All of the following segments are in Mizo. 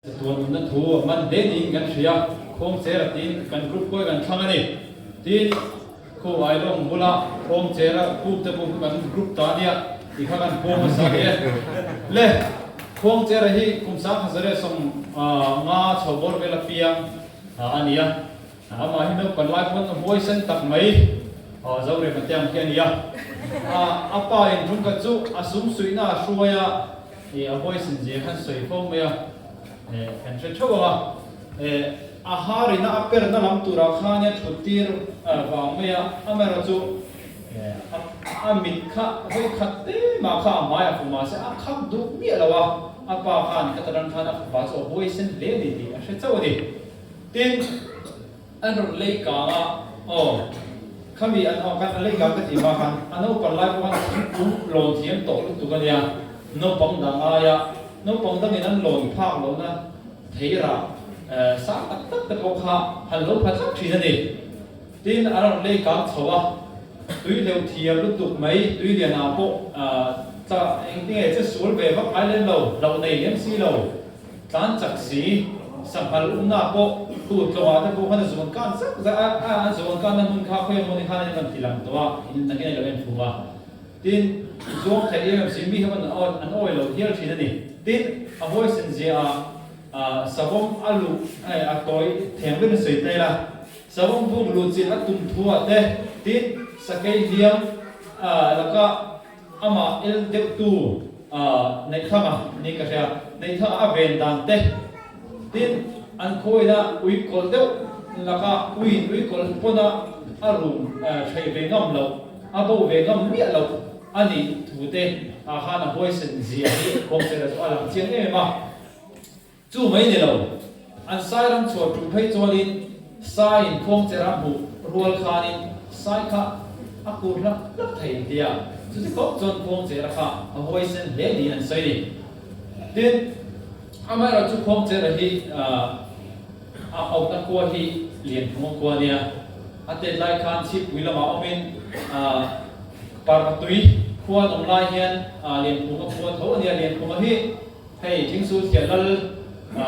Tuanutna thu man hle niin kan hria, Khawngchera tiin kan kut kuai kan thlâng a ni. Tin, Kho Ailawng bula Khawngchera pûkte pawh kha kan group ta nia, ti kha kan pawm hmasa a ni e. Le, Khawngchera hi kum sangkhat zawh leh sawm nga chho bawr vel apiang a ni a, amah hi naupan lai pawn huai sen tak mai zo rem atiang khi a ni a. A pa in Rungkat chu a sum suihna a hruai a. Ih a voice in zir khan sawi fo mai a eh kan hre theuh ang a eh a har in a a per na lam tur ah khan ia thut tir eh vang mai a am erawh chu eh a a mit kha vawi khat te mah kha a hmai a fu mah se a khak duh miah lo a a pa khan heta ran khan a fapa chu a buai sen hle a ni tih a hre chauh a ni tin An rawn lei kang a, aw. Khami an haw khan a lei kang ka tih hma khan a naupang lai pawh khan thingkung lawn thiam tawh lutuk a nia. Naupang dang aia naupang dangin an lawn phak lohna thei rah sang tak tak te pawh kha han lo pha tlat thin a ni. Tin, a rawn lei kang chho a, tui hleuh thiam lutuk mai tui lian ah pawh cha engtinge che sual ve vak ngai lem lo, hlauh nei lem si lo. Tlan chak si, sahnghal umnaah pawh khu tlawha te pawh khan a zuan kan zak zah a, a an zuan kanna hmun kha khawi emaw ni khan in kan ti lang tawh a, in na ngei lo em thu a, tin, i zuam theih em em si, mi ho an an awi lo hial thin a ni, tin, a huaisen zia ah ah savawm a luh eh a tawi theng vek in sawi tel a, savawm buk luh chilh a tum thu ah te, tin, sakei hliam ah lakah. Amah el deuh tu ah Neithlanga nih ka hria. Neithlanga a ven dan te tin an khawiin ah ui kawlh deuh lak ah ui in ui kawlh pawn ah a rum theih ve ngam loh, a bo ve ngam miah loh a nih thu te ah khan a huaisen zia hi Kawngchela chu a lang chiang em em a. Chu mai ni lo, an sairam chhuar ṭuh phei chuanin saiin khuangcher a hmuh rual khanin sai kha a kur hlak hlak thei an ti a, chuti khawp chuan khuangchera kha a huaisen hle niin an sawi ni. Tin, amaherawh chu khuangchera hi a awmna khua hi lian thunga khua a nia, a tet lai khan chhipui lamah awmin Parmatui khua a nawm lai hian lian phunga khua tho a nia, lian phunga hi Hei thing chu thian lal a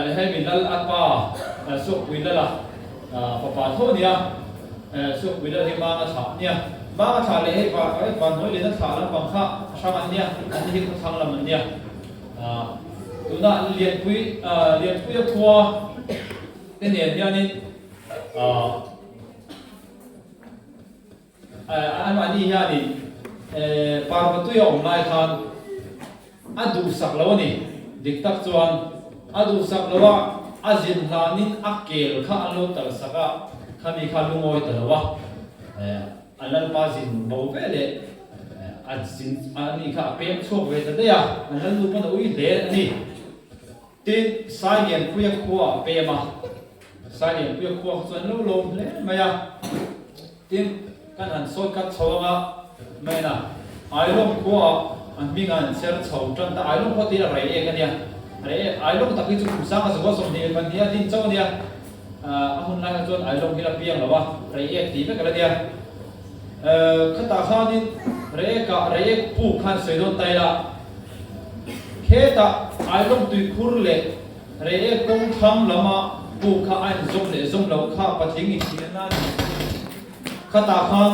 ni a, hei min lal a pa Sawkpuii lala fapa tho a ni a, Sawkpuii lal hi Manga thla a ni a, Manga thla leh hei Vanhawilina thla lampang kha a hrang an ni a, an ni hi khawthlang lam an ni a, tuna Lianpuii a khua te nen hianin. Anamahni hianin Parvatui a awm lai khan a duhsak lo a ni. Dik tak chuan a duhsak lo a, a zin hlanin a kel kha an lo talsak a, khami kha lu ngawi ta lo a, a lalpa zin bo ve leh a zin anih kha a pek chhuak ve ta daih a, a lalnu paoh na ui hle a ni. Tin, Sai Lianpuia khua a pem a. Sai Lianpuia khua kha chuan lo lawm hle mai a. Tin, kan han sawi khat chho ang a, men a, Ailawng khua a hming a an ser chho tan ta. Ailawng khua tih hi a rei ek a nia. Rei ek, Ailawng tak hi chu kum sanga zual sawm hnih leh hmanhniha a din chauh a nia. A hun laia chuan ai zawng hi la piang lo a, rei ek tih vek a la nia. Khatah khanin rei eka rei ek pu khan sawi dawn ta ila, khetah ai zawng tui phur leh rei ek kawng thlang lama pu kha a inzawm leh zawm loh kha patling inthiah nan ni chu khatah khan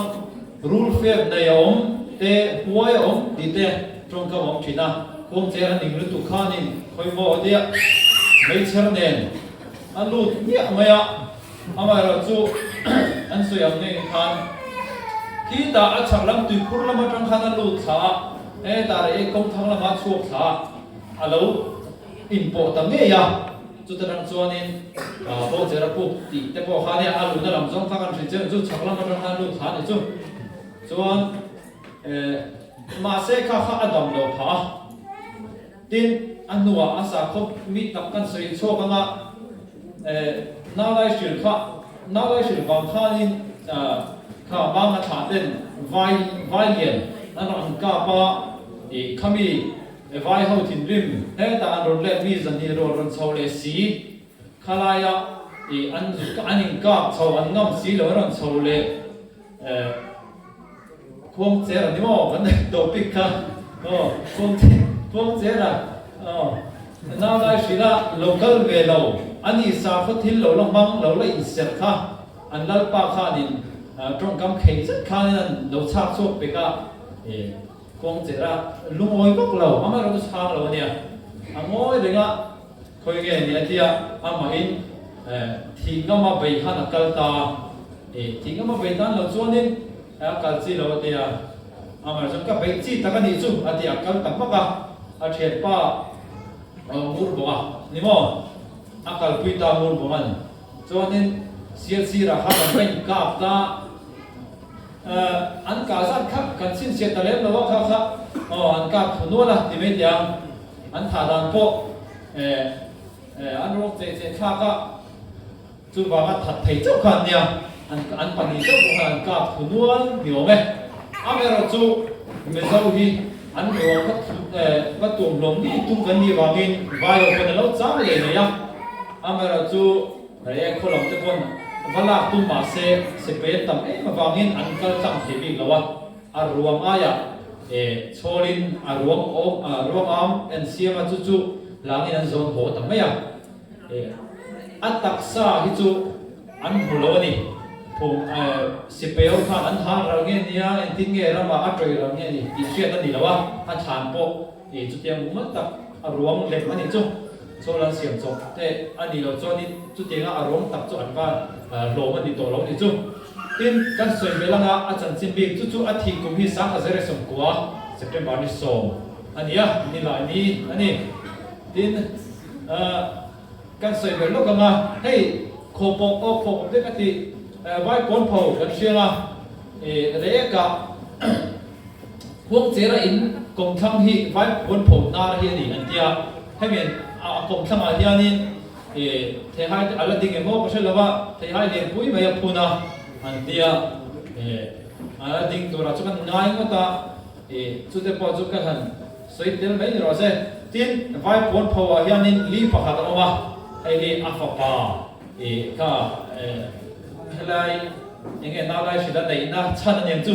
rul fep nei a awm te huai a awm tih te tawngkam a awm thin a. Khuamtler a ning lutuk khanin khawimaw a tia meichher nen. A lut miah mai a, amaherawh chu an sawi ang nge khan khi tah a chhak lam Tuikhur lam atang khan a lut thla a, he tah leh Ekawng thang lama chhuak thla a lo inpawh ta ngei a, chuta tang chuanin Bo Cher a puk tih te pawh khan a luhna lam zawng kha kan hrilh chian ang chu, chhak lam atang khan lut thla a ni chu. Chuan mahse kha kha a damlo phah a. Tin, a hnuah a sa khawp mi tak kan sawi inchhawk ang a, Naulaihrilh kha, Naulaihrilh vang khanin kha hmanga thah ten vai vailian an rawn an kap a, ih, khami vaiho thinrim hetah an rawn let mi zahnih erawh rawn chho leh si Khalai a an in kap chho an ngam si lo an rawn chho leh khuang cher a ni maw kan nei topic kha aw khuang cher a aw nau lai hrilh a lo kal ve lo a ni sa khaw thil lo la hmang lo la in serh kha an lalpa kha an in tawngkam khei zet khan in an lo chhak chhuak pek a khuang cher a lungawi vak lo amaherawhchu chhang lo a nia a ngawi reng a. Khawi nge nia tia amahin thih ngama bei khan a kal ta a, e thih ngama bei tan lo chuanin a kal chi lo a ti a, amaherawh chuan ka bei chi tak a nih chu a ti a, kal tak vak a, a thiat pa a awm hur bawk a ni maw, a kalpui ta hur bawk a ni, chuanin sir sirah khan an rawn inkap ta a, e an kah zat kha kan chhinchhiah ta lem lo a kha kha, aw an kap thu nual a ti mai tiang An thah dan pawh an rawk che che thlak a, chuvanga that thei chauh khan nia an pahnih chauh pawh khan an kap thu nual ni awm e. Amerawh chu Mizo hi an rual va tum hlawm ni tum kan nih vangin vai ho pawn a lo chang leh mai a. Amerawh chu rei ai khaw lam te pawn va lak tum mah se, sepel tam em avangin an kal tlang thei bik lo a. A ruam aia e chhawlin a ruam ruangam en siam a chu chu hlangin an zawn haw ta mai a e a taksa hi chu an hmu lo ani phung e sipeo khan an hang ral nge nia engtin nge rama a tawih ral nge ni tih hriat ani lo a a thlan pawh I chutiang buk mal tak a ruang lem a nih chu. Chawla an siam chawk teh a nih loh chuanin chutianga a ruang tak chu an va hlawm a ni tawh lo nih chu. Tin, kan sawi ve langa a chanchin bik chu chu a thih kum hi Sangha Zere sawmkua, September ni sawm a ni a, ni la ni a ni. Tin, kan sawi ber lawk anga hei khaw pawk aw khaw pawp dek a tih vai pawn pho kan hriang a, i reh ekah Huangchera in kawng thlang hi vai puan pho nar hi a ni an tia, hemi an a kawng thlang ah hian in theihai te a la ding emaw ka hre lova, theihai lian pui mai a phun a an tia, a la ding tur ah chu kan ngai ngawt a, chu te pawh chu ka han sawi tel mai ni loh se, tin vai puan pho ah hian in li pakhat a awm a, hei hi a fapa kha helai enge nalai hrila neih na chhan a ni ang chu.